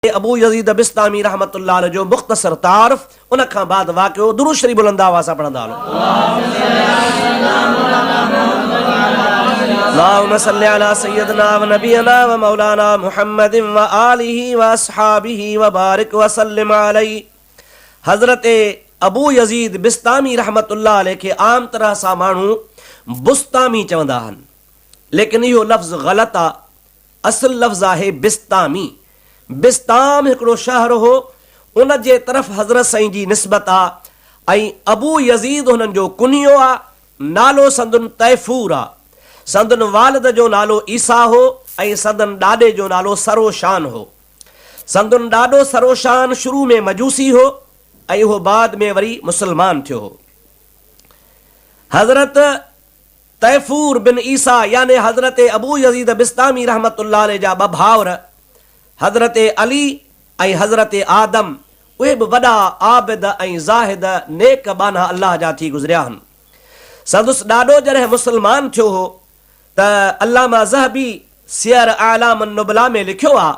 تي ابو يزيد بسطامي رحمة الله عليه جو مختصر تعارف ان کان بعد واقعو درود شريف بلند آواز سان پڙهندا هلون. اللهم صل علي سيدنا ونبينا ومولانا محمد وآله واصحابه وبارڪ وسلم عليه حضرت ابو يزيد بسطامي رحمة الله عليه کي عام طرح سان ماڻهو بسطامي چوندا آهن ليڪن اهو لفظ غلط آ اصل لفظ آهي بسطامي. بسطام هڪڙو شهر هو، ان جي طرف حضرت سائين جي نسبت آ ۽ ابو يزيد هنن جو ڪنيو آ. نالو سندن طيفور آ. سندن والد جو نالو عيسيٰ هو ۽ سندن ڏاڏي جو نالو سروشان هو. سندن ڏاڏو سروشان شروع ۾ مجوسي هو ۽ اهو بعد ۾ وري مسلمان ٿيو هو. حضرت. طيفور بن عيسيٰ يعني حضرت ابو يزيد بسطامي رحمة الله عليه جا ٻه ڀائر حضرت علي ۽ حضرت آدم اهي به وڏا عابد ۽ زاهد نيڪ ٻانها الله جا ٿي گذريا هن. سندس ڏاڏو جڏهن مسلمان ٿيو هو ته علامه ذهبي سير اعلام النبلاء ۾ لکيو آهي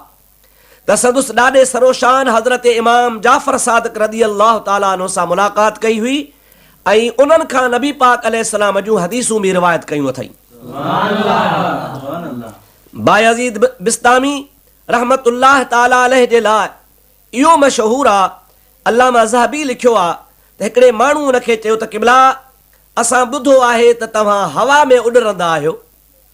ته سندس ڏاڏي سروشان حضرت امام جعفر صادق رضي الله تعالٰي عنه سان ملاقات ڪئي هئي ۽ انهن کان نبي پاڪ عليه السلام جون حديثون به روايت ڪيون اٿئي. بايزيد بسطامي رحمة الله تعالٰي عليه جي لاء اهو مشهور آ، علامه ذهبي لکيو آ ته هڪڙي ماڻهو ان کي چيو ته قبلا! اسان ٻڌو آهي ته توهان هوا ۾ اڏرندا آهيو.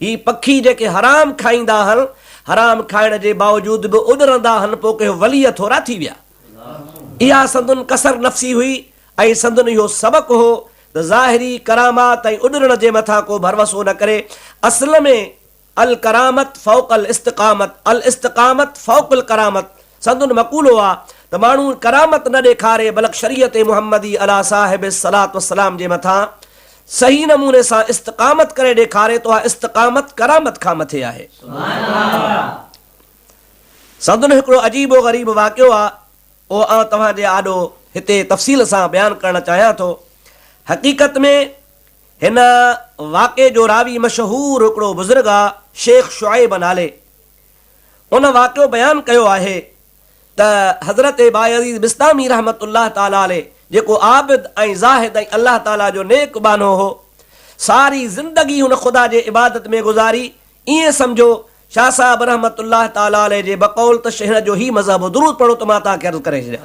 هي پکي جيڪي حرام کائيندا هن، حرام کائڻ جي باوجود به اڏرندا هن پوء ڪي وليء ٿورا ٿي ويا. اها سندن ڪسر نفسي هئي ۽ سندن اهو سبق هو ته ظاهري ڪرامات ۽ اڏرڻ جي مٿان ڪو ڀروسو نه ڪري. اصل ۾ الڪرامت فوق الاستقامت الاستقامت فوق الڪرامت سندن مقولو آ ته ماڻهو ڪرامت نه ڏيکاري بلڪ شريعت محمدي عليٰ صاحب الصلوة والسلام جي مٿان صحيح نموني سان استقامت ڪري ڏيکاري ته اها استقامت ڪرامت کان مٿي آهي. سندن هڪڙو عجيب و غريب واقعو آ اهو آئون توهان جي آڏو هتي تفصيل سان بيان ڪرڻ چاهيان ٿو. حقيقت ۾ هن واقعي جو راوي مشهور هڪڙو بزرگ آ شيخ شعيب نالي. هن واقعو بيان ڪيو آهي ته حضرت بايزيد بسطامي رحمة الله تعالٰي عليه جيڪو عابد ۽ زاهد ۽ الله تعالٰي جو نيڪ ٻانهو هو، ساري زندگي هن خدا جي عبادت ۾ گذاري، ائين سمجهو، شاهه صاحب رحمة الله تعالٰي عليه جي بقول ته شينهن جو هي مذهب هو، درود پڙهو ته مان توهان کي عرض ڪري ڇڏيان.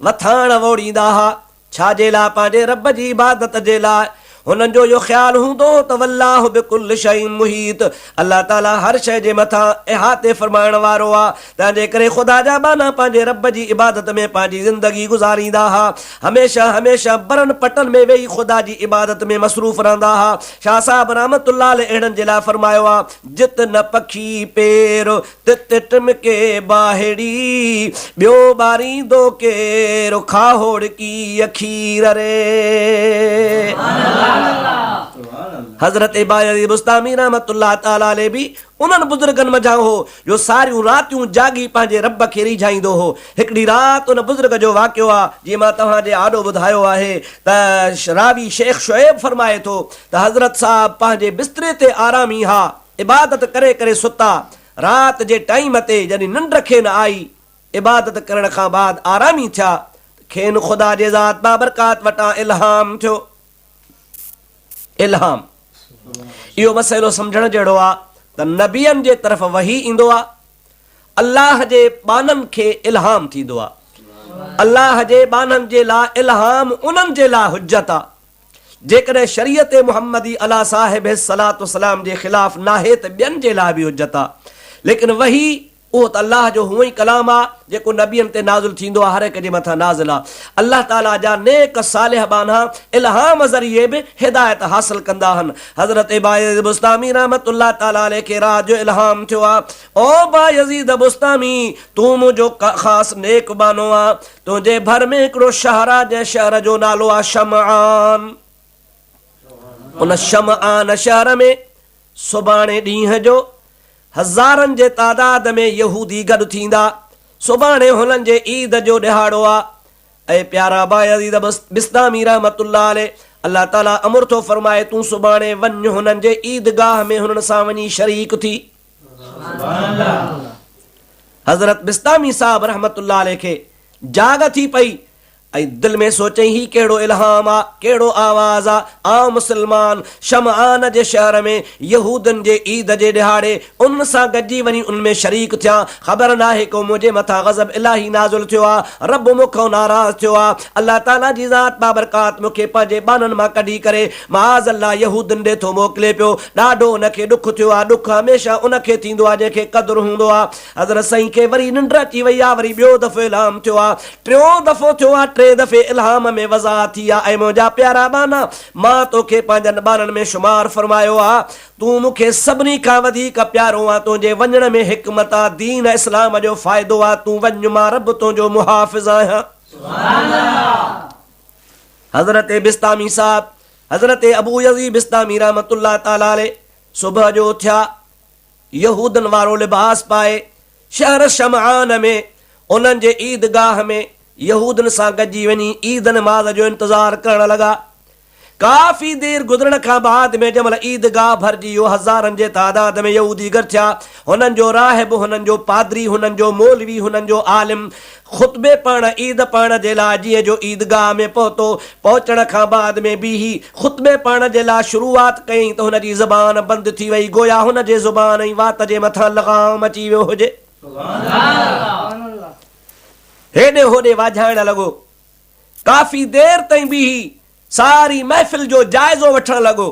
مٿاهڻ ووڙيندا ها، ڇا جي لاء پنهنجي رب جي عبادت جي لاء، هنن جو اهو خيال هوندو هو ته والله بڪل شيء محيط، الله تعاليٰ هر شيء جي مٿان احاطي فرمائڻ وارو آهي، تنهنجي ڪري خدا جا ٻانها پنهنجي رب جي عبادت ۾ پنهنجي زندگي گذاريندا ها، هميشه هميشه برن پٽن ۾ ويهي خدا جي عبادت ۾ مصروف رهندا ها، شاهه صاحب رحمة الله عليه اهڙن جي لاء فرمايو آهي، جت نه پکي پير، ته تت م ڪي ٻاهڙي ٻيو ٻاريندو ڪير کاهوڙڪي کير ري. حضرت بايزيد بسطامي رحمة الله تعالٰي عليه به انهن بزرگن منجهان هو جو ساريون راتيون جاڳي پنهنجي رب کي ريجهائيندو هو. هڪڙي رات ان بزرگ جو واقعو آ جيئن مان توهان جي آڏو ٻڌايو آهي ته راوي شيخ شعيب فرمائي ٿو ته حضرت صاحب پنهنجي بستري تي آرامي ها، عبادت ڪري ڪري ستا. رات جي ٽائيم تي جڏھن ننڊ کين آئي، عبادت ڪرڻ کان بعد آرامي ٿيا ته کين خدا جي ذات بابرڪات وٽان الھام ٿيو. الھام، اھو مسئلو سمجھڻ جھڙو آ ته نبين جي طرف وحي ايندو آ، الله جي ٻانھن کي الھام ٿيندو آ. الله جي ٻانھن جي لا الھام انھن جي لا حجت آ. جيڪڏهن شريعت محمدي علا صاحب الصلوة والسلام جي خلاف ناهي ته ٻين جي لاء به حجت آ. ليڪن وحي اهو ته الله جو هونء ئي ڪلام آ، جيڪو نبين تي نازل ٿيندو آ هر هڪ جي مٿان نازل آ. الله تعاليٰ جا نيڪ صالح ٻانها الهام ذريعي به هدايت حاصل ڪندا هن. حضرت بايزيد بسطامي رحمة الله تعاليٰ عليه کي رات جو الهام ٿيو آ، او بايزيد بسطامي! تون منهنجو خاص نيڪ ٻانهو آ. تنهنجي ڀر ۾ هڪڙو شهر آ، جنهن شهر جو نالو آ شمعان. ان شمعان شهر ۾ سڀاڻي ڏينهن جو هزارن جي تعداد ۾ يهودي گڏ ٿيندا. سڀاڻي هنن جي عيد جو ڏهاڙو آ. اي پيارا بايزيد بسطامي رحمة الله عليه! الله تعاليٰ امر ٿو فرمائي، تون سڀاڻي وڃ هنن جي عيدگاهه ۾ هنن سان وڃي شريڪ ٿي. حضرت بسطامي صاحب رحمة الله عليه کي جاڳ ٿي پئي ۽ دل ۾ سوچيائين هي ڪهڙو الهام آ، ڪهڙو آواز آ، آئون مسلمان شمعان جي شهر ۾ يهودين جي عيد جي ڏهاڙي انهن سان گڏجي وڃي انهن ۾ شريڪ ٿيان، خبر ناهي ڪو منهنجي مٿان غضب الاهي نازل ٿيو آ، رب مون کان ناراض ٿيو آ، الله تعاليٰ جي ذات بابرڪات مون کي پنهنجي ٻانهن مان ڪڍي ڪري معاذ الله يهودين ڏي ٿو موڪلي پيو، ڏاڍو ان کي ڏک ٿيو آ، ڏک هميشه ان کي ٿيندو آ جنهن کي قدر هوندو آ، حضرت سائين کي وري ننڊ اچي وئي آ، وري ٻيو دفعو الهام ٿيو آ، ٽيون دفعو ٿيو آ، ٽئين دفعي الهام ۾ وضاحت ٿي آ، اي منهنجا پيارا ٻانها، مان توکي پنهنجن ٻانهن ۾ شمار فرمايو آ، تون مون کي سڀني کان وڌيڪ پيارو آن، تنهنجي وڃڻ ۾ حڪمت آ، دين اسلام جو فائدو آ، تون وڃ مان رب تنهنجو محافظ آهيان. حضرت بسطامي صاحب حضرت ابو يزيد بسطامي رحمة الله تعالٰي عليه صبح جو اٿيا، يهودن وارو لباس پائي، شهر شمعان ۾ انهن جي عيد گاهه ۾ يهودن سان گڏجي وڃي عيد نماز جو انتظار ڪرڻ لڳا. ڪافي دير گذرڻ کان بعد ۾ جنهن مهل عيد گاهه ڀرجي ويو، هزارن جي تعداد ۾ يهودي گڏ ٿيا، هنن جو راهب، هنن جو پادري، هنن جو مولوي، هنن جو عالم، خطبي پڙهڻ عيد پڙهڻ جي لاء ڏينهن جو عيدگاهه ۾ پهتو. پهچڻ کان بعد ۾ بيهي خطبي پڙهڻ جي لاء شروعات ڪيائين ته هن جي زبان بند ٿي وئي گويا هن جي زبان ۽ وات جي مٿان لغام اچي ويو هجي. هيڏي هوڏي واجهائڻ لڳو. ڪافي دير تائين بيهي ساري محفل جو جائزو وٺڻ لڳو،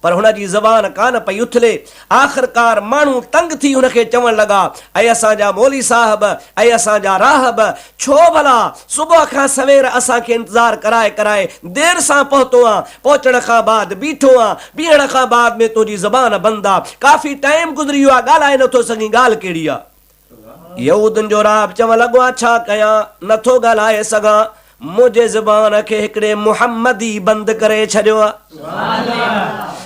پر هن جي زبان ڪانه پئي اٿلي. آخرڪار ماڻهو تنگ ٿي هن کي چوڻ لڳا، اي اسان جا مولي صاحب، اي اسان جا راهب، ڇو ڀلا صبح کان سوير اسان کي انتظار ڪرائي ڪرائي دير سان پهتو آن، پهچڻ کان بعد بيٺو آن، بيهڻ کان بعد ۾ تنهنجي زبان بند آ، ڪافي ٽائيم گذري ويو آ، ڳالهائي نٿو سگهين، ڳالهه ڪهڙي آ؟ يهودين جو راهب چوڻ لڳو، آء ڇا ڪيان؟ نه ٿو ڳالهائي سگهان، منهنجي زبان کي هڪڙي محمدي بند ڪري ڇڏيو آ.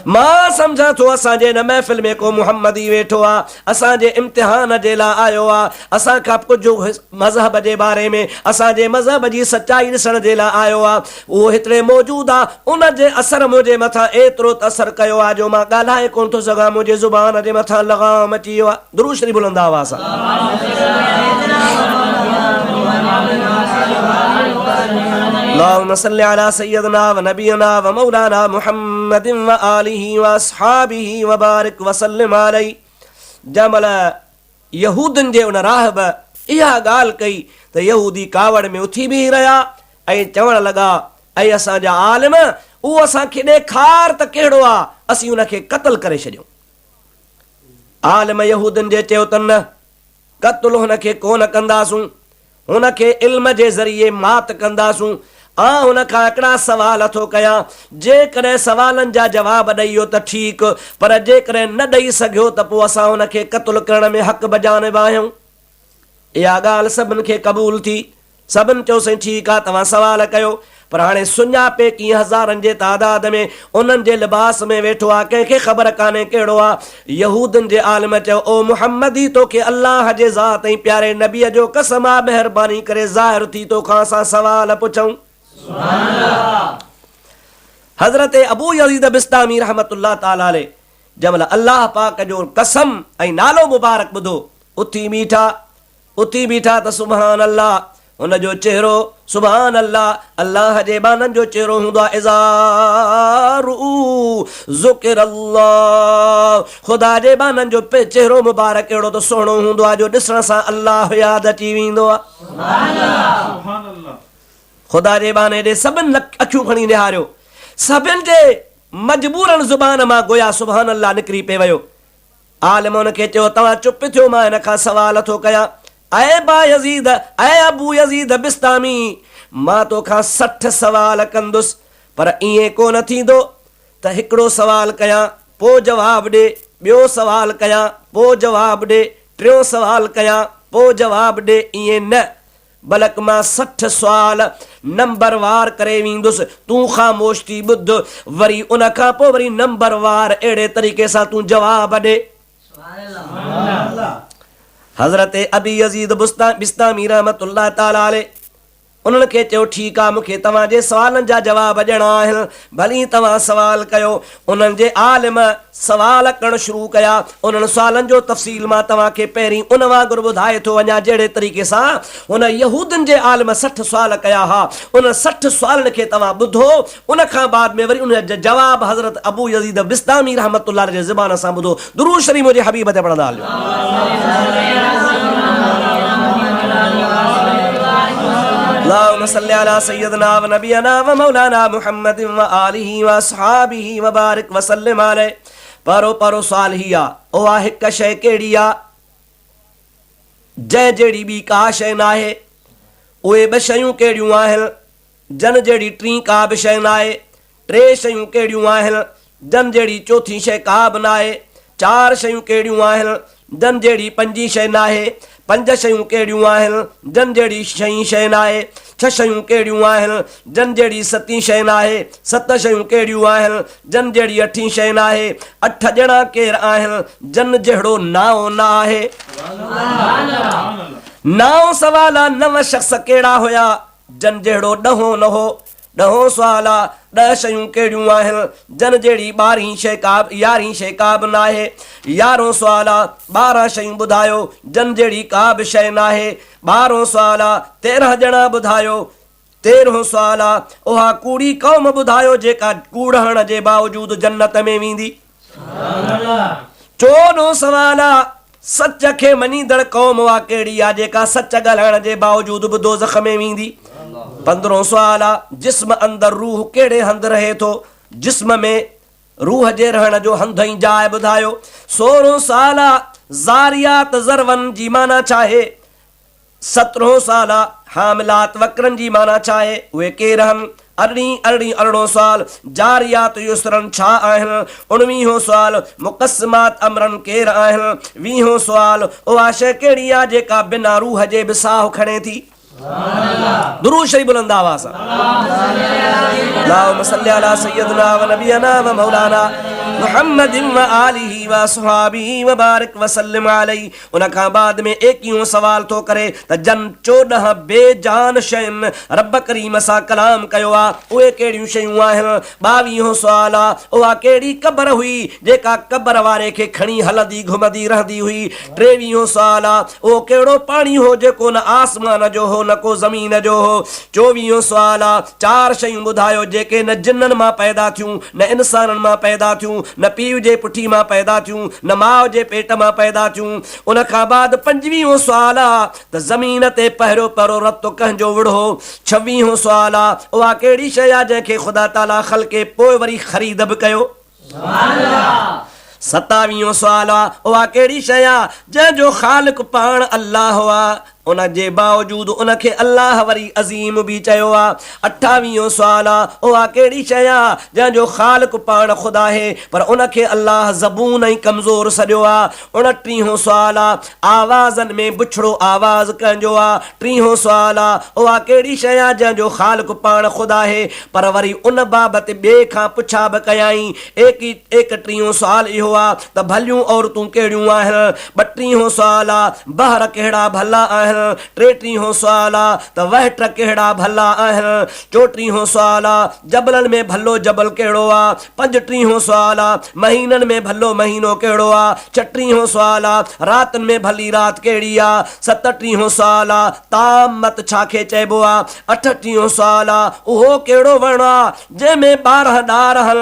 مان سمجهان ٿو اسان جي هن محفل ۾ ڪو محمدي ويٺو آ، اسان جي امتحان جي لاء آيو آ، اسان کان ڪجهه مذهب جي باري ۾ اسان جي مذهب جي سچائي ڏسڻ جي لاء آيو آ. اهو هتڙي موجود آ، ان جي اثر منهنجي مٿان ايترو ته اثر ڪيو آ جو مان ڳالهائي ڪونه ٿو سگهان، منهنجي زبان جي مٿان لغام اچي ويو آ. درود شريف بلند آواز سان. اللهم صل على سيدنا ونبينا ومولانا محمد وآله واصحابه وبارك وسلم عليه جنهن مهل يهودن جي ان راهب اها ڳالهه ڪئي ته يهودي ڪاوڙ ۾ اٿي بيهي رهيا ۽ چوڻ لڳا اي اسان جا عالم اهو اسان کي ڏيکار ته ڪهڙو آ اسين ان کي قتل ڪري ڇڏيون عالم يهودين جي چيو ته نه، قتل هن کي ڪونه ڪنداسون، هن کي علم جي ذريعي مات ڪنداسون. آء هن کان هڪڙا سوال ٿو ڪيان، جيڪڏهن سوالن جا جواب ڏئي ويو ته ٺيڪ، پر جيڪڏهن نه ڏئي سگهيو ته پوء اسان هن کي قتل ڪرڻ ۾ حق بجانب آهيون. اها ڳالهه سڀن کي قبول ٿي. سڀن چيو سائين ٺيڪ آ توهان سوال ڪيو پر هاڻي سڃاپي ڪيئن هزارن جي تعداد ۾ انهن جي لباس ۾ ويٺو آ ڪنهن کي خبر ڪانهي ڪهڙو آ يهودين جي عالم چيو او محمدي توکي الله جي ذات ۽ پياري نبي جو قسم آ مهرباني ڪري ظاهر ٿي توکان اسان سوال پڇون. سبحان الله. حضرت ابو يزيد بسطامي رحمة الله تعالٰي عليه جنهن مهل الله پاڪ جو قسم ۽ نالو مبارڪ ٻڌو، اٿي بيٺا، اٿي بيٺا ته سبحان الله، هن جو چهرو، سبحان الله، الله جي ٻانهن جو چهرو هوندو آهي اذا رؤوا ذڪر الله، خدا جي ٻانهن جو چهرو مبارڪ اهڙو ته سهڻو هوندو آهي جو ڏسڻ سان الله ياد اچي ويندو آهي. سبحان الله. خدا جي ٻانهي ڏي سڀن اکيون کڻي نهاريو، سڀن جي مجبورن زبان مان گويا سبحان الله نڪري پئي ويو. عالم ان کي چيو، توهان چپ ٿيو مان هن کان سوال ٿو ڪيان، اي بايزيد، اي ابو يزيد بسطامي، مان تو کان سٺ سوال ڪندس، پر ائين ڪو نه ٿيندو ته هڪڙو سوال ڪيان، پوء جواب ڏي، ٻيو سوال ڪيان، پوء جواب ڏي، ٽيون سوال ڪيان، پوء جواب ڏي، ائين نه، بلڪ مان سٺ سوال نمبر وار ڪري ويندس، تون خاموش ٿي ٻڌ، وري ان کان پوء وري نمبر وار اهڙي طريقي سان تون جواب ڏي. حضرت ابي يزيد بسطامي رحمة الله تعالٰي عليه انهن کي چيو، ٺيڪ آ، مون کي توهان جي سوالن جا جواب ڏيڻا آهن، ڀلي توهان سوال ڪيو. انهن جي عالم سوال ڪرڻ شروع ڪيا. انهن سوالن جو تفصيل مان توهان کي پهرين ان وانگر ٻڌائي ٿو وڃان جهڙي طريقي سان هن يهودين جي عالم سٺ سوال ڪيا ها. انهن سٺ سوالن کي توهان ٻڌو ان کان بعد ۾ وري انهن جا جواب حضرت ابو يزيد بسطامي رحمة الله عليه جي زبان سان ٻڌو. درود شريف منهنجي حبيب تي پڙهندا هليو. پهرو پهرو سوال هي آ اها هڪ شيء ڪهڙي آ جنهن جهڙي ٻي ڪا شيء ناهي؟ اهي ٻه شيون ڪهڙيون آهن؟ جن جهڙي ٽين ڪا به شيء ناهي، ٽي شيون ڪهڙيون آهن، جن جهڙي چوٿين شيء ڪا به ناهي، چار شيون ڪهڙيون آهن، جن جهڙي پنجين شيء ناهي، پنج شيون ڪهڙيون آهن، جن جهڙي ڇهين شيء ناهي، ڇهه شيون ڪهڙيون آهن، جن جهڙي ستين شيء ناهي، ست شيون ڪهڙيون آهن، جن جهڙي اٺين شيء ناهي، اٺ ڄڻا ڪير آهن، جن جهڙو نائون نه آهي. نائون سوال آ، نو شخص ڪهڙا هيا، جن جهڙو ڏهون نه هو. ڏهون سوال آ، ڏهه شيون ڪهڙيون آهن؟ جن جهڙي ٻارهين شيء ڪا به يارهين شيء ڪا به ناهي. يارهون سوال آ، ٻارهن شيون ٻڌايو، جن جهڙي ڪا به شيء ناهي. ٻارهون سوال آ، تيرهن ڄڻا ٻڌايو. تيرهون سوال آ، اها ڪوڙي قوم ٻڌايو جيڪا ڪوڙهڻ جي باوجود جنت ۾ ويندي. ٽيون ڏون سوال آ، سچ کي مڃيندڙ قوم اها ڪهڙي آ، جيڪا سچ ڳالهائڻ جي باوجود به دوزخ ۾ ويندي؟ پندرهون سوال آ، جسم اندر روح ڪهڙي هنڌ رهي ٿو؟ جسم ۾ روح جي رهڻ جو هنڌ ۽ جاء ٻڌايو. سورهون سوال آ، ذاريات، ذروًا، جي معنيٰ ڇا آهي؟ سترهون سوال، حاملات وڪرن جي معنيٰ ڇا آهي؟ اهي ڪير آهن؟ ارڙهين، ارڙهين ارڙهون سوال، جاريات يسرن ڇا آهن؟ اڻويهون سوال، مقسمات امرن ڪير آهن؟ ويهون سوال، اها شيء ڪهڙي آهي جيڪا بنا روح جي به ساهه کڻي ٿي؟ درود شريف بلند آواز سان. اللهم صل علي سيدنا و نبينا و مولانا محمد و آله و اصحابه و بارڪ وسلم عليه ان کان بعد ۾ اي ڪيون سوال ٿو ڪري ته جن چوڏهن بي جان شين رب ڪريم سان ڪلام ڪيو آ اهي ڪهڙيون شيون آهن؟ ٻاويهون سوال آ اها ڪهڙي قبر هئي جيڪا قبر واري کي کڻي هلندي گهمندي رهندي هئي؟ ٽيويهون سوال آ اهو ڪهڙو پاڻي هو جيڪو نه آسمان جو هو نه ڪو زمين جو هو؟ چوويهون سوال آ چار شيون ٻڌايو جيڪي نه جنن مان پيدا ٿيون نه انسانن مان پيدا ٿيون، نه پيء جي پٺي مان پيدا ٿيون، نه ماء جي پيٽ مان پيدا ٿيون. ان کان بعد پنجويهون سوال آ ته زمين تي پهريون پرو رتو ڪنهن جو وڙهو؟ ڇويهون سوال آ اها ڪهڙي شيء آ جنهن کي خدا تعاليٰ خلقي پوء وري خريد به ڪيو؟ ستاويهون سوال آ اها ڪهڙي شيء آ جنهن جو خالق پاڻ الله آ ان جي باوجود ان کي الله وري عظيم به چيو آهي. اٺاويهون سوال آهي، اها ڪهڙي شيء آهي، جنهن جو خالق پاڻ خود آهي، پر ان کي الله زبون ۽ ڪمزور سڏيو آهي؟ اڻٽيهون سوال آهي، آوازن ۾ بڇڙو آواز ڪنهن جو آهي؟ ٽيهون سوال آهي، اها ڪهڙي شيء آهي، جنهن جو خالق پاڻ خود آهي؟ پر وري ان بابت ٻئي کان پڇا به ڪيائين. ايڪٽيهون سوال اهو آهي، ته ڀليون عورتون ڪهڙيون آهن؟ ٻه ٽيهون سوال آ بحر ڪهڙا ڀلا آهن؟ ٽي ٽيهون سوال آ ته وهٽ ڪهڙا ڀلا آهن؟ چوٽيهون سوال آ جبلن ۾ ڀلو جبل ڪهڙو آ؟ پنج ٽيهون سوال آ مهينن ۾ ڀلو مهينو ڪهڙو آ؟ ڇهه ٽيهون سوال آ راتن ۾ ڀلي رات ڪهڙي آ؟ ست ٽيهون سوال آ طعام مت ڇا کي چئبو آ؟ اٺ ٽيهون سوال آ اهو ڪهڙو وڻ آ جنهن ۾ ٻارهن ڏار هن؟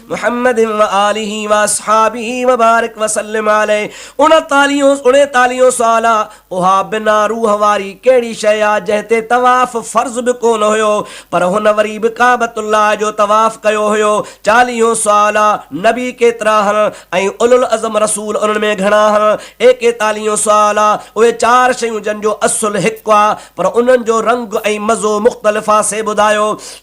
محمد و آله و اصحابه و بارک و سلم عليه اڻيتاليهون اڻيتاليهون سوال آ اها بنا روح واري ڪهڙي شيء آ جنهن تي طواف فرض به ڪونه هيو پر هن وري به ڪعبت الله جو طواف ڪيو هيو چاليهون سوال آ نبي ڪيترا هن ۽ اولوالعزم رسول انهن ۾ گهڻا هن ايڪيتاليهون سوال آ اهي چار شيون جن جو اصل هڪ آ پر انهن جو رنگ ۽ مزو مختلف آ سي ٻڌايو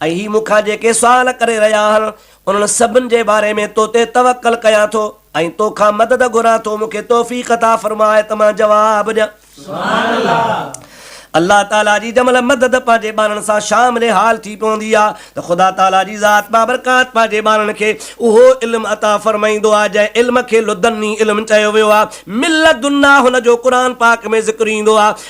۽ هي مون کان جيڪي سوال ڪري رهيا آهن، انهن سڀن جي باري ۾ تو تي توڪل ڪيان ٿو، ۽ تو کان مدد گهران ٿو، مون کي توفيق عطا فرماء ته مان جواب ڏيان. سبحان الله! الله تعاليٰ جي جنهن مهل مدد پنهنجي ٻانهن سان شامل حال ٿي پوندي آهي ته خدا تعاليٰ جي ذات بابرڪات پنهنجي ٻانهن کي اهو علم عطا فرمائيندو آهي، جنهن علم کي لدني علم چيو ويو آهي، من لدنا هن جو قرآن پاڪ ۾ ذڪر ايندو آهي.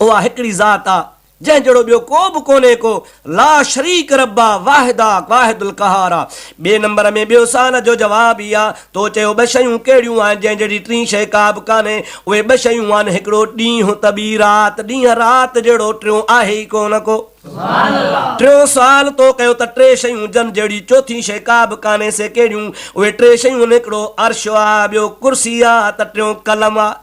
اها هڪڙي ذات آ جنهن جهڙو ٻيو ڪو به ڪونهي ڪو لا شريڪ رب آ واحد آ واحد القهار آ ٻي نمبر ۾ ٻيو سوال جو جواب هي آ تو چيو ٻه شيون ڪهڙيون آهن جنهن جهڙي ٽين شي ڪا به ڪانهي اهي ٻه شيون آهن هڪڙو ڏينهن ته ٻي رات ڏينهن رات جهڙو ٽيون آهي ئي ڪونه ڪو ٽيون سوال تو ڪيو ته ٽي شيون جن جهڙي چوٿين شي ڪا به ڪانهي سي ڪهڙيون اهي ٽي شيون هڪڙو عرش آ ٻيو ڪرسي آ ته ٽيون قلم آ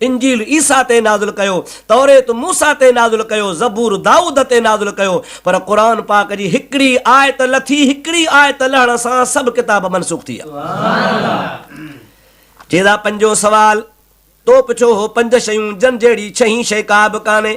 انجيل عيسيٰ تي نازل ڪيو، توريت موسيٰ تي نازل ڪيو، زبور دائود تي نازل ڪيو، پر قرآن پاڪ جي هڪڙي آيت لٿي، هڪڙي آيت لهڻ سان سڀ ڪتاب منسوخ ٿي ويا. چيدا پنجون سوال تو پڇيو هو پنج شيون جن جهڙي ڇهين شيء ڪا به ڪانهي،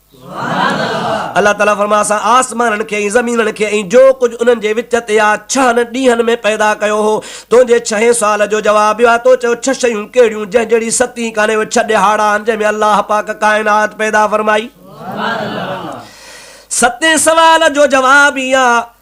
الله تعالي فرمايو اسان آسمانن کي ۽ زمينن کي ۽ جو ڪجهه انهن جي وچ تي آهي ڇهن ڏينهن ۾ پيدا ڪيو هو. تنهنجي ڇهين سوال جو جواب اهو آهي تو چيو ڇهه شيون ڪهڙيون جنهن جهڙي ست ئي ڪانهي اهي ڇهه ڏهاڙا آهن جنهن ۾ الله پاڪ ڪائنات پيدا فرمائي. ستين سوال جو جواب اهو آهي.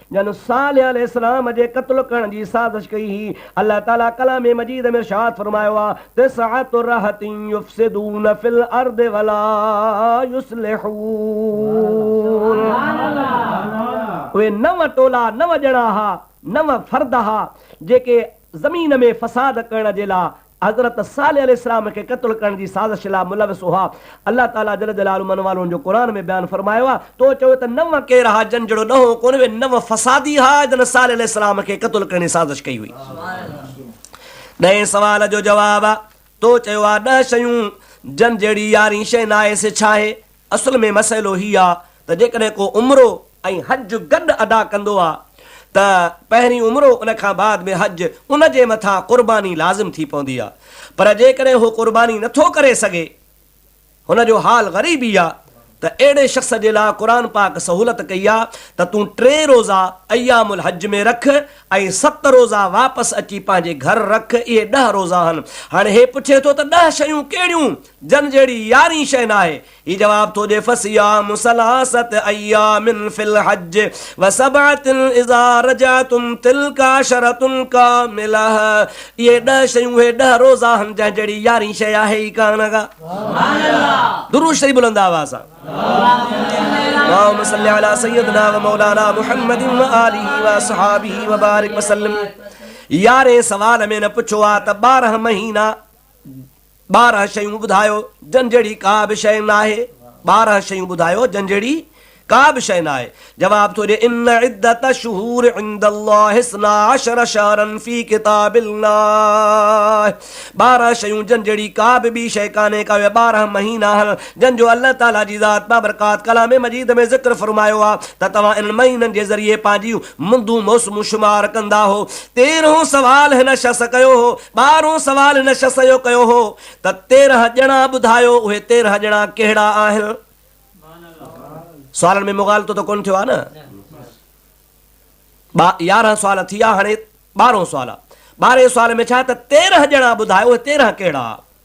جن صالح عليه السلام جي قتل ڪرڻ جي سازش ڪئي هئي، الله تعاليٰ ڪلام مجيد ۾ ارشاد فرمايو آهي، تسعة رهط يفسدون في الارض ولا يصلحون. اهي نو ٽولا، نو ڄڻا ها، نو فرد ها، جيڪي زمين ۾ فساد ڪرڻ جي لاء حضرت صالح عليه السلام کي قتل ڪرڻ جي سازش لاء ملوث هئا. الله تعاليٰ جل جلاله انهن والن جو قرآن ۾ بيان فرمايو آهي. تو چوين ته نوح ڪير ها جن جهڙو ڏهون ڪونه وي، نوح فسادي ها جن صالح عليه السلام کي قتل ڪرڻ جي سازش ڪئي هئي. ڏهين سوال جو جواب، تو چيو آهي ڏهه شيون جن جهڙي يارهين شيء ناهي سي ڇا آهي؟ اصل ۾ مسئلو هي آ ته جيڪڏهن ڪو عمرو ۽ حج گڏ ادا ڪندو آ ته پهرين عمرو ان کان بعد ۾ حج ان جي مٿان قرباني لازم ٿي پوندي آ پر جيڪڏهن هو قرباني نه ٿو ڪري سگهي هن جو حال غريبي آ ته اهڙي شخص جي لاء قرآن پاڪ سهولت ڪئي آ ته تون ٽي روزا ايام الحج ۾ رک ۽ ست روزا واپس اچي پنهنجي گهر رک اهي ڏهه روزا آهن هاڻي هي پڇي ٿو ته ڏهه شيون ڪهڙيون جن جهڙي يارين شيء ناهي. هي جواب ٿو ڏي فصيام ثلاثه ايام في الحج وسبعه اذا رجعتم تلڪ عشره ڪامله اهي ڏهه شيون اهي ڏهه روزا آهن جنهن جهڙي يارين شيء آهي ئي ڪانه ڪا. درود شريف بلند آواز سان. اللهم صل علي سيدنا ومولانا محمد وآله واصحابه وبارڪ وسلم يارين سوال ۾ نه پڇو آ ته ٻارهن مهينا ٻارهن شيون ٻڌايو جن جهڙي ڪا به شيء ناهي. ٻارهن شيون ٻڌايو جن جهڙي ڪا به شيء ناهي. جواب ٿو ڏي، ان عدة الشهور عند الله اثنا عشر شهرا في ڪتاب الله ٻارهن شيون جن جهڙي ڪا به ٻي شيء ڪانهي ڪا اهي ٻارهن مهينا آهن جن جو الله تعاليٰ جي ذات بابرڪات ڪلام مجيد ۾ ذڪر فرمايو آهي ته توهان انهن مهينن جي ذريعي پنهنجيون مندون موسمون شمار ڪندا هو. تيرهون سوال هن شخص ڪيو هو. ٻارهون سوال هن شخص اهو ڪيو هو ته تيرهن ڄڻا ٻڌايو، اهي تيرهن ڄڻا ڪهڙا آهن؟ سوالن ۾ مغالطو ته ڪونه ٿيو آهي نه؟ ٻا يارهن سوال ٿي ويا، هاڻي ٻارهون سوال آهي. ٻارهين سوال ۾ ڇا ته تيرهن ڄڻا ٻڌايو، اهي تيرهن ڪهڙا؟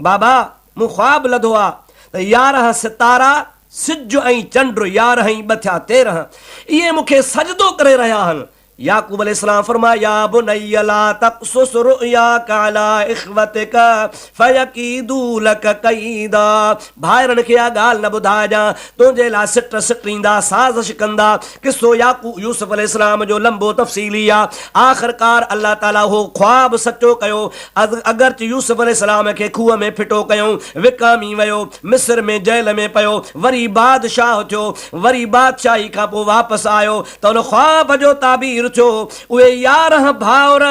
بابا! مون خواب لڌو آ ته يارهن ستارا، سج ۽ چنڊ، يارهن ۽ ٻه ٿيا تيرهن، اهي مون کي سجدو ڪري رهيا آهن. يعقوب عليه السلام فرمايو، يا بني لا تقصص رؤياک علي اخوتک فيڪيدو لک ڪيدا، ڀائرن کي اها ڳالهه نه ٻڌائجان، تنهنجي لاء سٽ سٽيندا، سازش ڪندا. قصو يعقوب يوسف عليه السلام جو لنبو تفصيلي آ. آخرڪار الله تعاليٰ اهو خواب سچو ڪيو. اگرچ يوسف عليه السلام کي کوهه ۾ ڦٽو ڪيائون، وڪامي ويو، مصر ۾ جيل ۾ پيو، وري بادشاهه ٿيو، وري بادشاهي کان پوء واپس آيو ته ان خواب جو تعبير ٿيو، اهي يارهن ڀائر،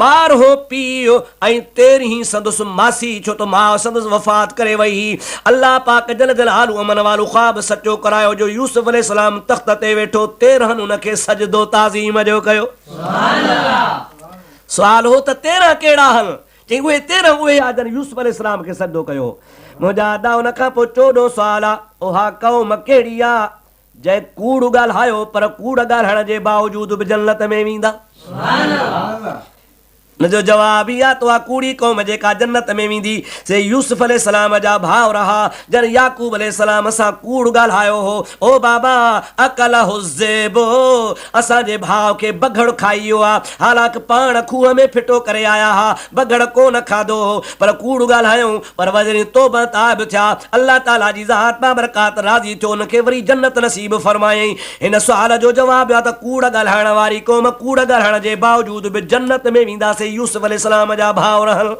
ٻارهون پيء ۽ تيرهين سندس ماسي ڇو ته ماء سندس وفات ڪري وئي هئي. الله پاڪ جل جلاله امن والو خواب سچو ڪرايو جو يوسف عليه السلام تخت تي ويٺو تيرهن ان کي سجدو تعظيم جو ڪيو. سوال هو ته تيرهن ڪهڙا هن؟ چيائين اهي تيرهن اهي آ جن يوسف عليه السلام کي سجدو ڪيو هو. منهنجا ادا ان کان پوء چوڏهون سوال آ، اها قوم ڪهڙي آ جنهن ڪوڙ ڳالهايو پر ڪوڙ ڳالهائڻ جي باوجود به جنت ۾ ويندا؟ ان جو جواب هي آ ته اها ڪوڙي قوم جيڪا جنت ۾ ويندي سي يوسف عليه السلام جا ڀاء رها جن يعقوب عليه السلام سان ڪوڙ ڳالهايو هو، او بابا اڪله الذئب. اسان جي ڀاء کي بگهڙ کائي ويو آ، حالانڪ پاڻ کوهه ۾ ڦٽو ڪري آيا ها، بگهڙ ڪو نه کاڌو هو، پر ڪوڙ ڳالهايائون، پر وزيرين توبه تائب ٿيا، الله تعاليٰ جي ذات بابرڪات راضي ٿيو، ان کي وري جنت نصيب فرمايائين، هن سوال جو جواب ڏيو آ ته ڪوڙ ڳالهائڻ واري قوم ڪوڙ ڳالهائڻ جي باوجود به جنت ۾ ويندا سي يوسف عليه السلام جا ڀاء رهن.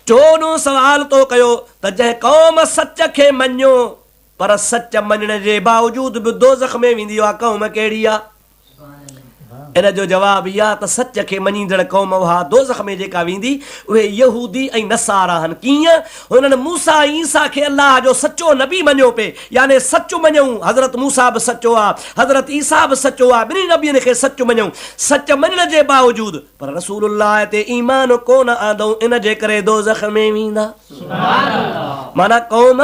چوڏهون سوال تو ڪيو ته جنهن قوم سچ کي مڃيو پر سچ مڃڻ جي باوجود به دوزخ ۾ ويندي اها قوم ڪهڙي آ؟ ان جو جواب هي آ ته سچ کي مڃيندڙ قوم اها دوزخ ۾ جيڪا ويندي اهي يهودي ۽ نصارا آهن ڪيئن؟ هنن موسيٰ ۽ عيسيٰ کي الله جو سچو نبي مڃيو پي يعني سچ مڃون حضرت موسيٰ به سچو آ حضرت عيسيٰ به سچو آ ٻنهي نبين کي سچ مڃون سچ مڃڻ جي باوجود پر رسول الله تي ايمان ڪونه آندئون ان جي ڪري دوزخ ۾ ويندا معنيٰ قوم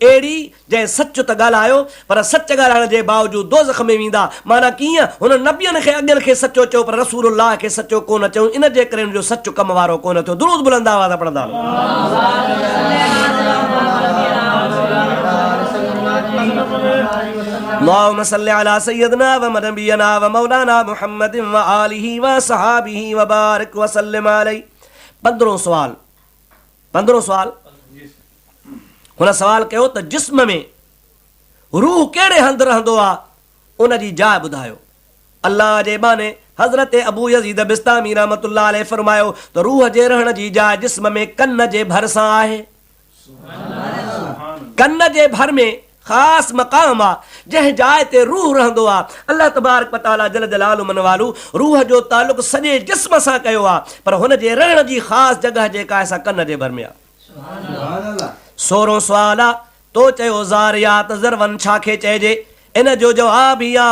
اهڙي، جنهن سچ ته ڳالهايو، پر سچ ڳالهائڻ جي باوجود دوزخ ۾ ويندا. معنيٰ ڪيئن؟ هنن نبين کي، اڳين کي، سچو چيو، پر رسول الله کي سچو ڪونه چيائون، ان جي ڪري هن جو سچ ڪم وارو ڪونه ٿيو. درود بلند آواز سان پڙهندا رهو. اللهم صل علي سيدنا ونبينا ومولانا محمد وآله وصحابه وبارڪ وسلم عليه پندرهون سوال، پندرهون سوال، هن سوال ڪيو ته جسم ۾ روح ڪهڙي هنڌ رهندو آ ان جي جاء ٻڌايو. الله جي ٻانهي حضرت ابو يزيد بسطامي رحمة الله عليه فرمايو ته روح جي رهڻ جي جاء جسم ۾ ڪن جي ڀر سان آهي. ڪن جي ڀر ۾ خاص مقام آ جنهن جاء تي روح رهندو آ الله تبارڪ و تعالي جل جلاله من والو روح جو تعلق سڄي جسم سان ڪيو آ پر هن جي رهڻ جي خاص جڳهه جيڪا آهي سا ڪن جي ڀر ۾ آ. سورهون سوال آ تو چيو ذاريات ذروعن ڇا کي چئجي ان جو جواب هي آ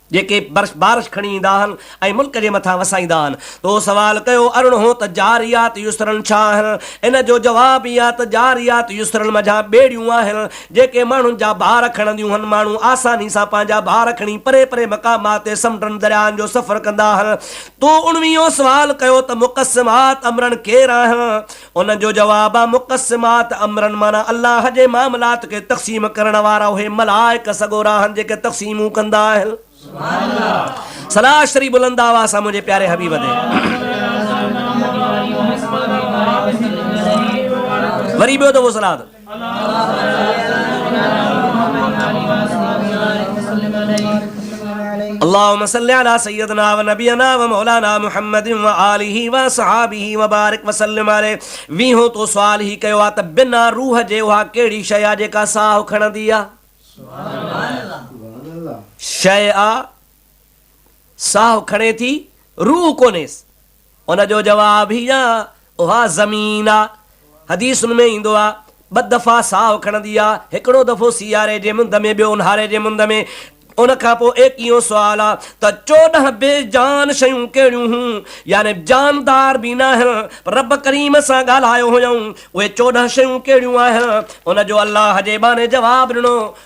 جيڪي برش بارش کڻي ايندا آهن ۽ ملڪ جي مٿان وسائيندا آهن. تو سوال ڪيو ارڙهن هون ته جاريات يسرن ڇا آهن؟ ان جو جواب هي آهي ته جاريات يسرن منجهان ٻيڙيون آهن جيڪي ماڻهن جا بار کڻنديون هن ماڻهو آساني سان پنهنجا بار کڻي پري پري مقامات تي سمنڊن درياهن جو سفر ڪندا آهن. تو اڻويهون سوال ڪيو ته مقسمات امرن ڪير آهن؟ ان جو جواب آ مقسمات امرن معنيٰ الله جي معاملات کي تقسيم ڪرڻ وارا اهي ملائڪ سڳورا آهن جيڪي تقسيمون ڪندا آهن. صلاة شريف بلند آواز سان منهنجي پياري حبيب تي. وري ٻيو دفعو صلاة. اللهم صل علي سيدنا ونبينا ومولانا محمد وآله وصحابه وبارك وسلم عليه ويهون تو سوال هي ڪيو آ ته بنا روح جي اها ڪهڙي شيء آ جيڪا ساهه کڻندي آ؟ شيء آ ساهه کڻي ٿي روح ڪونهيس ان جو جواب هي آهي، اها زمين آ. حديثن ۾ ايندو آ، ٻه دفعا ساهه کڻندي آ، هڪڙو دفعو سياري جي مند ۾ ٻيو اونهاري جي مند ۾. ان کان پوء ايڪيهون سوال آ ته چوڏهن بي جان شيون ڪهڙيون هيون؟ يعني جاندار به ناهن پر رب ڪريم سان ڳالهايو هيائون، اهي چوڏهن شيون ڪهڙيون آهن؟ ان جو الله جي ٻانهي جواب ڏنو،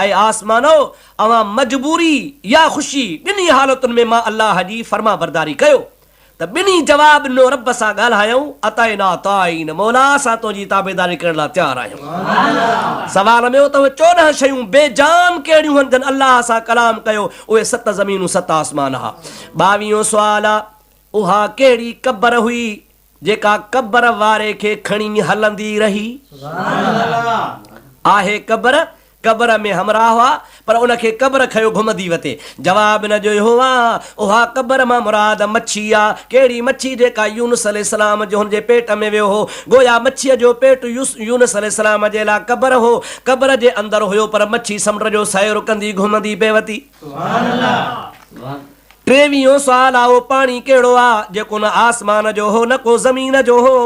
اي آسمانؤ! اوهان مجبوري يا خوشي ٻنهي حالتن ۾ مان الله جي فرمانبرداري ڪيو ته ٻنهي جواب ڏنو رب سان ڳالهايائون اطعنا طاعين مولا اسان تنهنجي تابعداري ڪرڻ لاء تيار آهيون سوال ۾ ته اهي چوڏهن شيون بي جان ڪهڙيون هن جن الله سان ڪلام ڪيو اهي ست زمينون ست آسمان ها ٻاويهون سوال اها ڪهڙي قبر هئي جيڪا قبر واري کي کڻي هلندي رهي آهي قبر قبر ۾ همراهه هئا پر ان کي قبر کيو گهمندي وتي جواب نه جو يهوه اها قبر مان مراد مڇي آ ڪهڙي مڇي جيڪا يونس عليه السلام جون جي پيٽ ۾ ويو هو گويا مڇيء جو پيٽ يونس عليه السلام جي لا قبر هو قبر جي اندر هيو پر مڇي سمنڊ جو سير ڪندي گهمندي پئي وتي سبحان الله ٽيويهون سوال، اهو پاڻي ڪهڙو آ، جيڪو نه آسمان جو هو نه ڪو زمين جو هو؟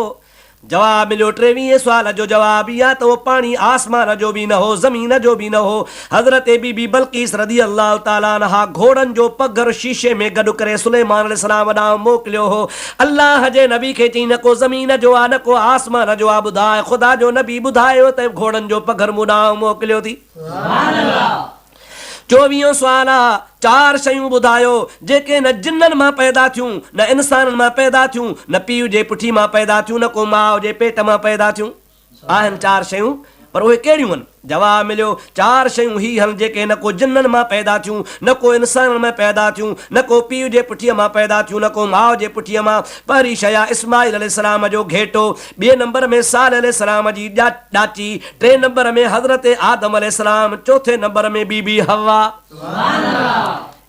جواب مليو، ٽيويهين سوال جو جواب هي آ ته اهو پاڻي آسمان جو به نه هو زمين جو به نه هو. حضرت بي بي بلقيس رضي الله تعالٰي عنها گهوڙن جو پگهر شيشي ۾ گڏ ڪري سليمان عليه السلام ڏانهن موڪليو هو. الله جي نبي کي چيائين نه ڪو زمين جو آ نه ڪو آسمان جو آ ٻڌاء خدا جو نبي ٻڌايو ته گهوڙن جو پگهر مون ڏانهن موڪليو ٿي. چوويهون سوال، اها چار شيون ٻڌايو، جيڪي نه جنن مان پيدا ٿيون، نه انسانن مان پيدا ٿيون، نه پيء جي پٺي مان پيدا ٿيون، نه ڪو ماء جي پيٽ مان پيدا ٿيون. آهن چار شيون، پر اهي ڪهڙيون هن؟ جواب مليو، چار شيون هي هن، جيڪي نه ڪو جنن مان پيدا ٿيون، نه ڪو انسانن ۾ پيدا ٿيون، نه ڪو پيء جي پٺيء مان پيدا ٿيون، نه ڪو ماء جي پٺيء مان. پهرين شيء آهي اسماعيل عليه السلام جو گهيٽو، ٻئي نمبر ۾ صالح عليه السلام جي ڄاٽ، ڏاتي، ٽئين نمبر ۾ حضرت آدم عليه السلام، چوٿين نمبر ۾ بي بي حوا.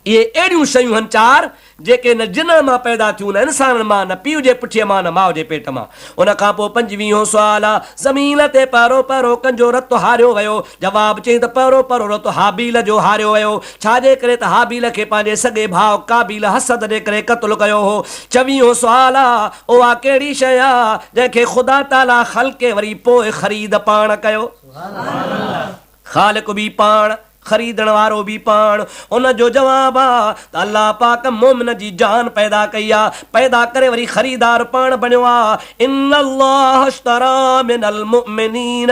اهي اهڙيون شيون هن چار، جيڪي نه جنن مان پيدا ٿيون، نه انسانن مان، نه پيء جي پٺيء مان، نه ماء جي پيٽ مان. ان کان پوء پنجويهون سوال آ، زمين تي پهرو پهرو ڪنجو رت هاريو ويو؟ جواب، چئين ته پهرو پهرو رت هابيل جو هاريو ويو. ڇا جي ڪري ته هابيل کي پنهنجي سڳي ڀاء قابيل حسد جي ڪري قتل ڪيو هو. چويهون سوال، اها ڪهڙي شيء آ، جنهن کي خدا تعاليٰ خلقي وري پوء خريد پاڻ ڪيو؟ خالق به پاڻ، خريدڻ وارو به پاڻ. ان جو جواب آ ته الله پاڪ مؤمن جي جان پيدا ڪئي آ، پيدا ڪري وري خريدار پاڻ بڻيو آ، ان الله اشتري من المؤمنين.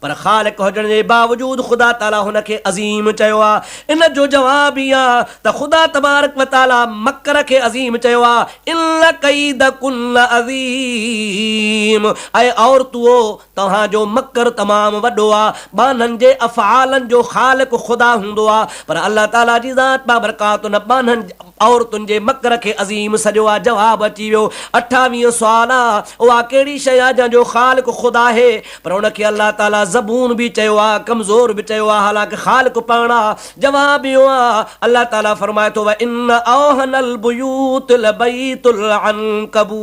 پر خالق هجڻ جي باوجود خدا تعاليٰ هن کي عظيم چيو آهي. ان جو جواب هي آهي ته خدا تبارڪ و تعاليٰ مڪر کي عظيم چيو آهي، ان ڪيدڪن عظيم، اي عورتؤ! توهان جو مڪر تمام وڏو آهي. ٻانهن جي افعالن جو خالق خدا هوندو آهي، پر الله تعاليٰ جي ذات بابرڪات ان ٻانهن، عورتن، جي مڪر کي عظيم سڏيو آهي. جواب اچي ويو. اٺاويهون سوال، اها ڪهڙي شيء آهي جنهن جو خالق خدا آهي؟ پر ان کي الله تعاليٰ زبون به چيو آهي، ڪمزور به چيو آهي، حالانڪ خالق پاڻ آهي. جواب اهو آهي، الله تعاليٰ فرمائي ٿو، وَإِنَّ أَوْهَنَ الْبُيُوتِ لَبَيْتُ الْعَنْڪَبُوتِ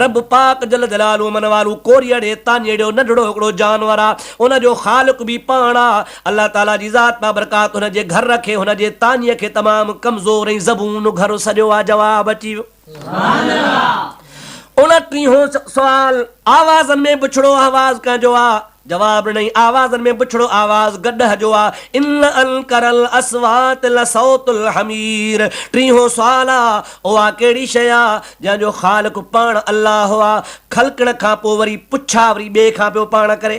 رب پاڪ جل جلاله من والو ڪوريئڙي، تانيئڙيو، ننڍڙو هڪڙو جانور آهي، ان جو خالق به پاڻ آهي. الله تعاليٰ جي ذات بابرڪات هن جي گهر کي، هن جي تانيء کي تمام ڪمزور ۽ زبون گهر سڏيو آهي. جواب اچي ويو. ان ٽيهون سوال آوازن ۾ بڇڙو آواز ڪنهن جو آ؟ جواب ڏنائين آوازن ۾ بڇڙو آواز گڏهه جو آ ان انڪر الاصوات لصوت الحمير ٽيهون سوال آ اها ڪهڙي شيء آ جنهن جو خالق پاڻ الله آ خلقڻ کان پوء وري پڇا وري ٻئي کان پيو پاڻ ڪري.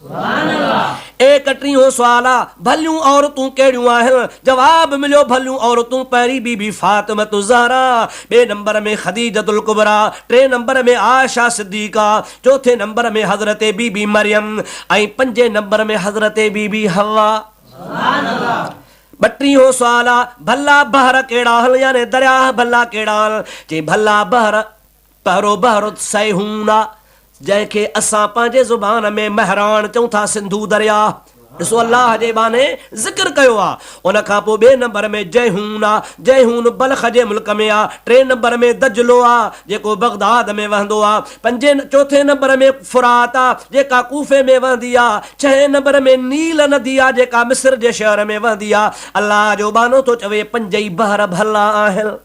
اي ڪٽري هو سوال آ ڀليون عورتون ڪهڙيون آهن؟ جواب مليو ڀليون عورتون پهرين بي بي فاطمة الزهرا، ٻئي نمبر ۾ خديجة الڪبريٰ، ٽئين نمبر ۾ عائشه صديقه، چوٿين نمبر ۾ حضرت بي بي مريم ۽ پنجين نمبر ۾ حضرت بي بي حوا. ٻٽرين هو سوال آ ڀلا بحر ڪهڙا آهن يعني درياهه ڀلا ڪهڙا آهن؟ چئي ڀلا بحر. پهرو بهرت سيهون آ، جنهن کي اسان پنهنجي زبان ۾ مهراڻ چئون ٿا، سنڌو درياهه ڏسو الله جي ٻانهي ذڪر ڪيو آ، ان کان پوء ٻئي نمبر ۾ جيهون آ، جيهون بلخ جي ملڪ ۾ آ، ٽئين نمبر ۾ دجلو آ، جيڪو بغداد ۾ وهندو آ، پنجين چوٿين نمبر ۾ فرات آ، جيڪا ڪوفي ۾ وهندي آ، ڇهين نمبر ۾ نيل ندي آ، جيڪا مصر جي شهر ۾ وهندي آ، الله جو ٻانهو ٿو چوي پنجئي بحر ڀلا آهن.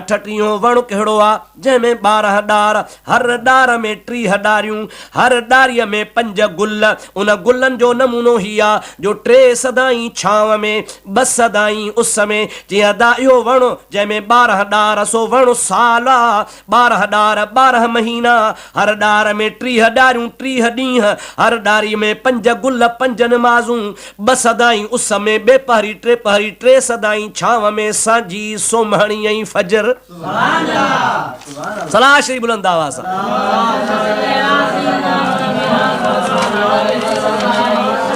اٺٽيهون وڻ ڪهڙو آ، جنهن ۾ ٻارهن ڏار، هر ڏار ۾ ٽيهه ڏاريون، هر ڏاريء ۾ پنج گل، ان گلن جو نمونو هي آ، جو ٽي سدائين ڇانو ۾، ٻه سدائين اس ۾، چيائين ادا اهو وڻ، جنهن ۾ ٻارهن ڏار، سو وڻ سال آ، ٻارهن ڏار، ٻارهن مهينا، هر ڏار ۾ ٽيهه ڏاريون، ٽيهه ڏينهن، هر ڏاريء ۾ پنج گل، پنج نمازون، ٻه سدائين اس ۾، ٻي پهري، ٽي پهري، ٽي سدائين ڇانو ۾، سانجهي، سومهڻي ۽ فجر. صلاح شريف بلند آواز سان.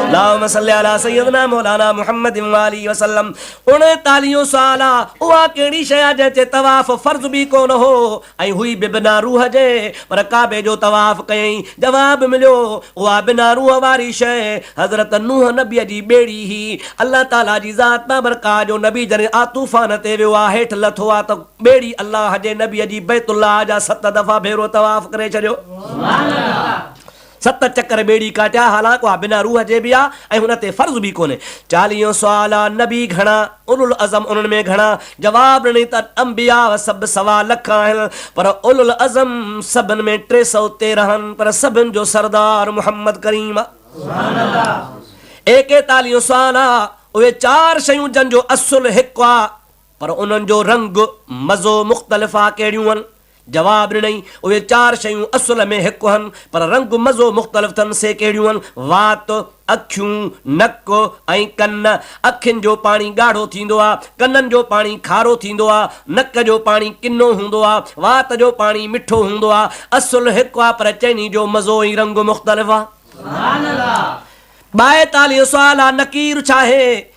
اللهم صل علي سيدنا مولانا محمد وآله وسلم اڻيتاليهون سال اها ڪهڙي شيء آ جنهن تي طواف فرض به ڪونه هو ۽ هئي به بنا روح جي، پر ڪعبي جو طواف ڪيائين، جواب مليو، اها بنا روح واري شيء حضرت نوح نبيء جي ٻيڙي هئي، الله تعاليٰ جي ذات بابرڪاهه جو نبي جڏهن آ طوفان تي ويو آ، هيٺ لٿو آ ته ٻيڙي الله جي نبيء جي بيت الله جا ست دفعا ڀيرو طواف ڪري ڇڏيو. ست چڪر ٻيڙي ڪاٽيا، حالانڪ اها بنا روح جي به آ ۽ هن تي فرض به ڪونهي. چاليهون سوال آ، نبي گهڻا؟ اولوالعزم انهن ۾ گهڻا؟ جواب ڏني ته انبياء سڀ سوا لک آهن، پر اولوالعزم سڀن ۾ ٽي سؤ تيرهن، پر سڀن جو سردار محمد ڪريم آ. ايڪيتاليهون سوال آ، اهي چار شيون جن جو اصل هڪ آ، پر انهن جو رنگ، مزو مختلف آ ڪهڙيون هن؟ جواب ڏنئي، اهي چار شيون اصل ۾ هڪ هن پر رنگ مزو مختلف ٿن سي ڪهڙيون هن؟ وات، اکيون، نڪ ۽ ڪن. اکين جو پاڻي ڳاڙهو ٿيندو آ، ڪنن جو پاڻي کارو ٿيندو آ، نڪ جو پاڻي ڪنو هوندو آ، وات جو پاڻي مٺو هوندو آ. اصل هڪ آ پر چئني جو مزو ۽ رنگ مختلف آ. ٻائيتاليهون سوال آ نڪير ڇا هي؟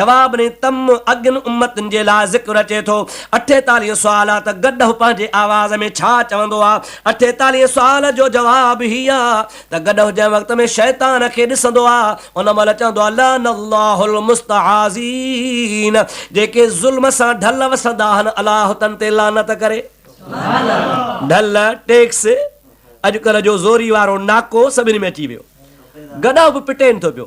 جواب ۾ تم اڳين امتن جي لاء ذڪر اچي ٿو. اٺيتاليهه سوال آ ته گڏهه پنهنجي آواز ۾ ڇا چوندو آ؟ اٺيتاليهه سوال جو جواب هي آ ته گڏهه جنهن وقت ۾ شيطان کي ڏسندو آ ان مهل چوندو آ لعن الله المستعاذين جيڪي ظلم سان ڍل وسندا آهن الله تن تي لعنت ڪري. ڍل، ٽيڪس، اڄڪلهه جو زوري وارو ناڪو سڀني ۾ اچي ويو. گڏهه به پٽين ٿو پيو.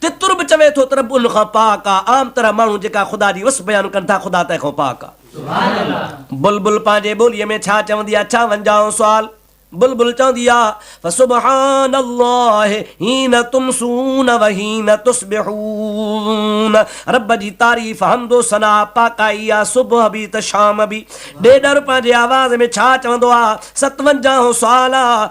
تتر به چوي ٿو ته رب ان کان پاڪ آ. عام طرح ماڻهو جيڪا خدا جي وصف بيان ڪن ٿا خدا تنهن کان پاڪ آ. بلبل پنهنجي ٻوليء ۾ ڇا چوندي آ؟ ڇا ونجهائو سوال. بلبل چوندي آ، فسبحان الله حين تمسون وحين تصبحون رب جي تعريف، حمد و ثناء، پاڪائي آ، صبح به ته شام به. ڏيڏر پنهنجي آواز ۾ ڇا چوندو آ؟ ستونجاهون سوال آ،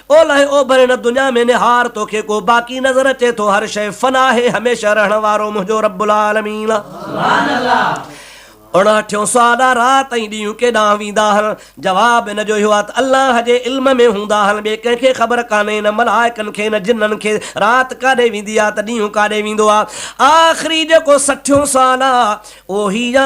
اولهه اوڀر هن دنيا ۾ نهار توکي ڪو باقي نظر اچي ٿو هر شيء فنا آهي هميشه رهڻ وارو منهنجو رب العالمين آهي. اڻاٺيون سوال آ رات ۽ ڏينهن ڪيڏانهن ويندا آهن؟ جواب ان جو اهو آ ته الله جي علم ۾ هوندا آهن ٻي ڪنهن کي خبر ڪانهي نه ملائڪن کي نه جنن کي رات ڪاڏي ويندي آ ته ڏينهن ڪاڏي ويندو آ آخري جيڪو سٺيون سوال آ اهو هي آ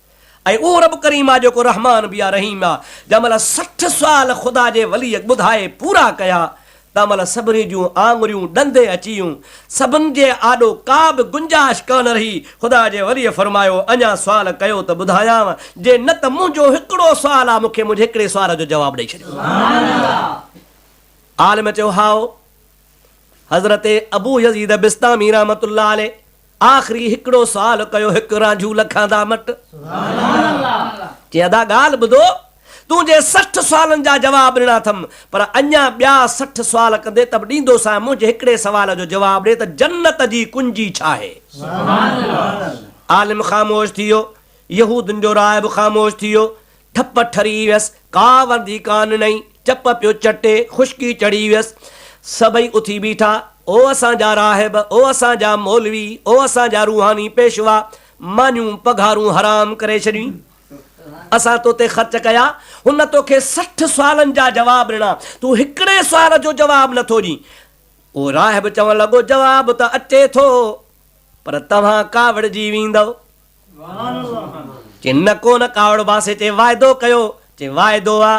۽ اهو رب ڪريم آ جيڪو رحمان به آ رحيم آ. جنهن مهل سٺ سوال خدا جي وليء ٻڌائي پورا ڪيا تنهن مهل سڀني جون آڱريون ڏندي اچي ويون. سڀن جي آڏو ڪا به گنجائش ڪانه رهي. خدا جي وليء فرمايو، اڃا سوال ڪيو ته ٻڌايانء، جي نه ته منهنجو هڪڙو سوال آ مون کي منهنجي هڪڙي سوال جو جواب ڏئي ڇڏيو. عالم چيو، هائو! حضرت ابو يزيد بسطامي رحمة الله عليه آخري هڪڙو سوال ڪيو هڪ رانجهو لکان دا مٽ چي ادا ڳالهه ٻڌو تون جي سٺ سوالن جا جواب ڏنا ٿم پر اڃا ٻيا سٺ سوال ڪندي ته به ڏيندو سانء منهنجي هڪڙي سوال جو جواب ڏي ته جنت جي ڪنجي ڇا آهي؟ عالم خاموش ٿي ويو يهودين جو راهب خاموش ٿي ويو ٺپ ٺري ويس، ڪا وردي ڪا ننئين، چپ پيو چٽي، خشڪي چڙهي ويس. سڀئي اٿي بيٺا، او اسان جا راهب، او اسان جا مولوي، او اسان جا روحاني پيشوا، مانيون پگهارون حرام ڪري ڇڏيون. اسان تو تي خرچ ڪيا، هن تو کي سٺ سوالن جا جواب ڏنا، تون هڪڙي سوال جو جواب نه ٿو ڏين. اهو راهب چوڻ لڳو، جواب ته اچي ٿو، پر توهان ڪاوڙجي ويندؤ. چي نه ڪو نه ڪاوڙ باسي چي واعدو ڪيو چي واعدو آ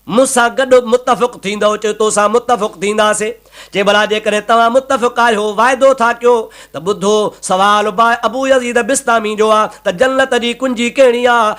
مون سان گڏ متفق ٿيندؤ چي تو سان متفق ٿينداسي چي ڀلا جيڪڏهن توهان متفق آهيو واعدو ٿا ڪيو ته ٻڌو سوال باء ابو يزيد بسطامي جو آ ته جنت جي ڪنجي ڪهڙي آ؟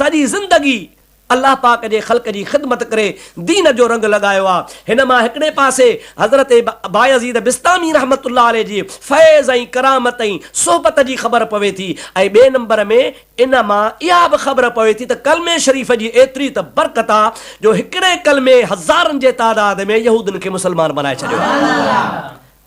سڄي زندگي الله پاڪ جي خلق جي خدمت ڪري دين جو رنگ لڳايو آ هن مان هڪڙي پاسي حضرت بايزيد بسطامي رحمة الله عليه جي فيض ۽ ڪرامت ۽ صحبت جي خبر پوي ٿي ۽ ٻئي نمبر ۾ ان مان اها به خبر پوي ٿي ته ڪلمي شريف جي ايتري ته برڪت آ جو هڪڙي ڪلمي هزارن جي تعداد ۾ يهودين کي مسلمان بنائي ڇڏيو آ.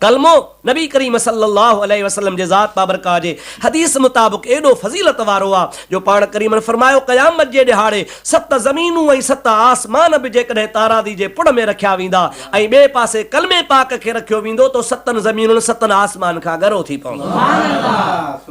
ڪلمو، نبي ڪريم صلّي اللّٰه عليه وسلّم جي ذات بابرڪاء جي حديث مطابق ايڏو فضيلت وارو آ، جو پاڻ ڪريمن فرمايو، قيامت جي ڏهاڙي ست زمينون ۽ ست آسمان به جيڪڏهن تارازي جي پڙ ۾ رکيا ويندا ۽ ٻئي پاسي ڪلمي پاڪ کي رکيو ويندو تو ستن زمينن ستن آسمان کان ڳرو ٿي پوندو.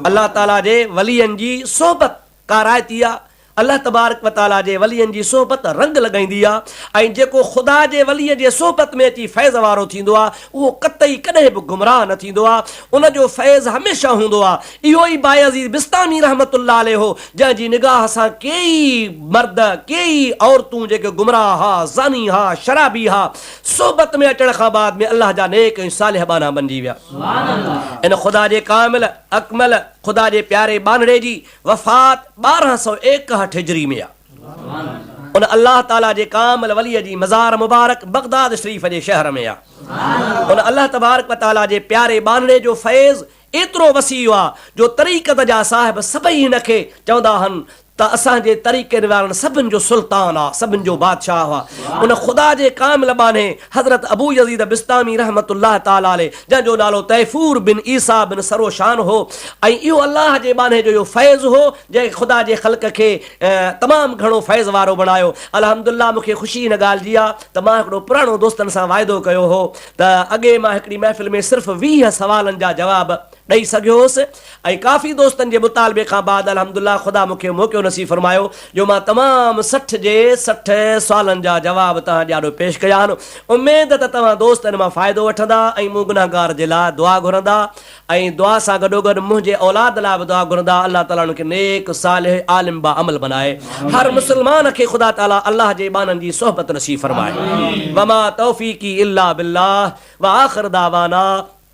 الله تعاليٰ جي ولين جي صحبت. ڪارائتي آ، الله تبارڪ و تعاليٰ جي ولين جي صحبت رنگ لڳائيندي آ ۽ جيڪو خدا جي ولي جي صحبت ۾ اچي فيض وارو ٿيندو آ اهو قطعي ڪڏهن به گمراهه نه ٿيندو آ ان جو فيض هميشه هوندو آ اهو ئي بايزيد بسطامي رحمة الله عليه هو جنهن جي نگاهه سان ڪيئي مرد ڪيئي عورتون جيڪي گمراهه ها زاني ها شرابي ها صحبت ۾ اچڻ کان بعد ۾ الله جا نيڪ ۽ صالح ٻانها بنجي ويا ان خدا جي ڪامل اڪمل خدا جي پياري ٻانهڙي جي وفات ٻارهن سؤ ايڪهٺ هجري ۾ آ. ان الله تعالي جي ڪامل ولي جي مزار مبارڪ بغداد شريف جي شهر ۾ آ. ان الله تبارڪ و تعالي جي پياري ٻانهڙي جو فيض ايترو وسيع آ جو طريقت جا صاحب سڀئي هن کي چوندا هن ته اسان جي طريقن وارن سڀن جو سلطان آ، سڀن جو بادشاهه آ. ان خدا جي ڪامل ٻانهي حضرت ابو يزيد بسطامي رحمة الله تعالٰي عليه جنهن جو نالو طيفور بن عيسيٰ بن سروشان هو ۽ اهو الله جي ٻانهي جو اهو فيض هو جنهن خدا جي خلق کي تمام گهڻو فيض وارو بڻايو. الحمد لله مون کي خوشي ان ڳالهه جي آ ته مان هڪڙو پراڻو دوستن سان واعدو ڪيو هو ته اڳي مان هڪڙي محفل ۾ صرف ويهه سوالن جا جواب ڏئي سگهيو هوس ۽ ڪافي دوستن جي مطالبي کان بعد الحمدالله خدا مون کي موقعو نصيب فرمايو جو مان تمام سٺ جي سٺ سوالن جا جواب توهان جي آڏو پيش ڪيا آهن اميد ته توهان دوست ان مان فائدو وٺندا ۽ مون گنهگار جي لاء دعا گهرندا ۽ دعا سان گڏوگڏ منهنجي اولاد لاء به دعا گهرندا الله تعالي انهن کي نيڪ صالح عالم باعمل بنائي هر مسلمان کي خدا تعالي الله جي ٻانهن جي صحبت نصيب فرمائي وما توفيقي الا بالله واخر دعوانا